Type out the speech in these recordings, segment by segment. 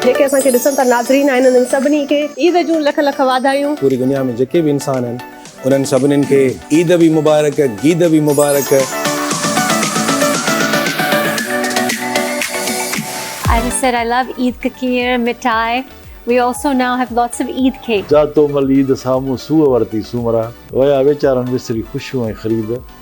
جيڪي اسان کي ڏسن ٿا ناظرين آهن انهن سڀني کي عيد جون لک لک واڌايون. پوري دنيا ۾ جيڪي به انسان آهن انهن سڀنن کي عيد به مبارڪ گيد به مبارڪ. I just said I love Eid ککير مٺائي We also now have lots of Eid cake. جا تو مل عيد سامهون سوء ورتي سومرا ويا ويچارن وسري خوشيون ۽ خريد.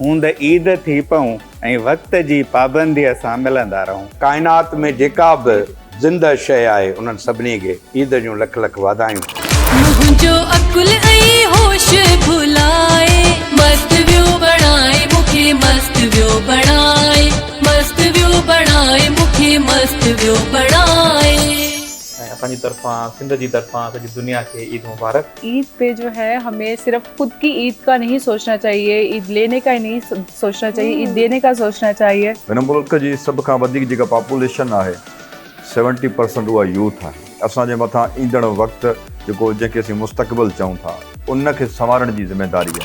هوند عيد ٿي پئون ۽ وقت جي پابنديء سان ملندا رهون. ڪائنات ۾ جيڪا به زنده شيء آهي انهن سڀني کي عيد جون لک لک واڌايون. منهنجو عقل ۽ هوش ڀلائي. مست ويو بڻائي مون کي مست ويو بڻائي. مست ويو بڻائي مون کي مست ويو بڻائي. ۽ اسان جي طرفان سنڌ جي طرفان سڄي دنيا کي عيد مبارڪ. عيد پي جو هي همي صرف خود ڪي عيد ڪا نهي سوچنا چاهيي عيد ليني ڪا نهي سوچنا چاهيي عيد ديني ڪا سوچنا چاهيي. هن ملڪ جي سڀ کان وڌيڪ جيڪا پاپوليشن آهي سيونٽي پرسنٽ اها يوٿ آهي اسان جي مٿان ايندڙ وقت جيڪو جنهن کي اسين مستقبل چئون ٿا ان کي سنوارڻ جي ذميداري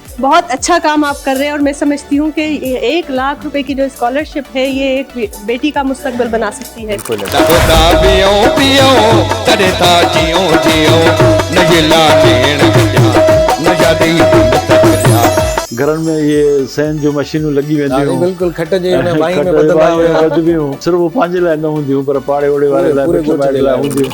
بهت اچها ڪام آپ ڪر رهي هي اور مين سمجهتي هون ڪي ايڪ لاک روپي ڪي جو اسڪالرشپ هي يه ايڪ بيٽي ڪا مستقبل بنا سکتي هي. گهرن ۾ اهي سين جون مشينون لڳي وينديون هيون. بلڪل کٽ جي ڀائين ۾ ٻڌبا هيا. صرف هو پنهنجي لاء نه هونديون هيون پر پاڙي اوڙي واري لاء مٺي مائٽ لاء هونديون هيون.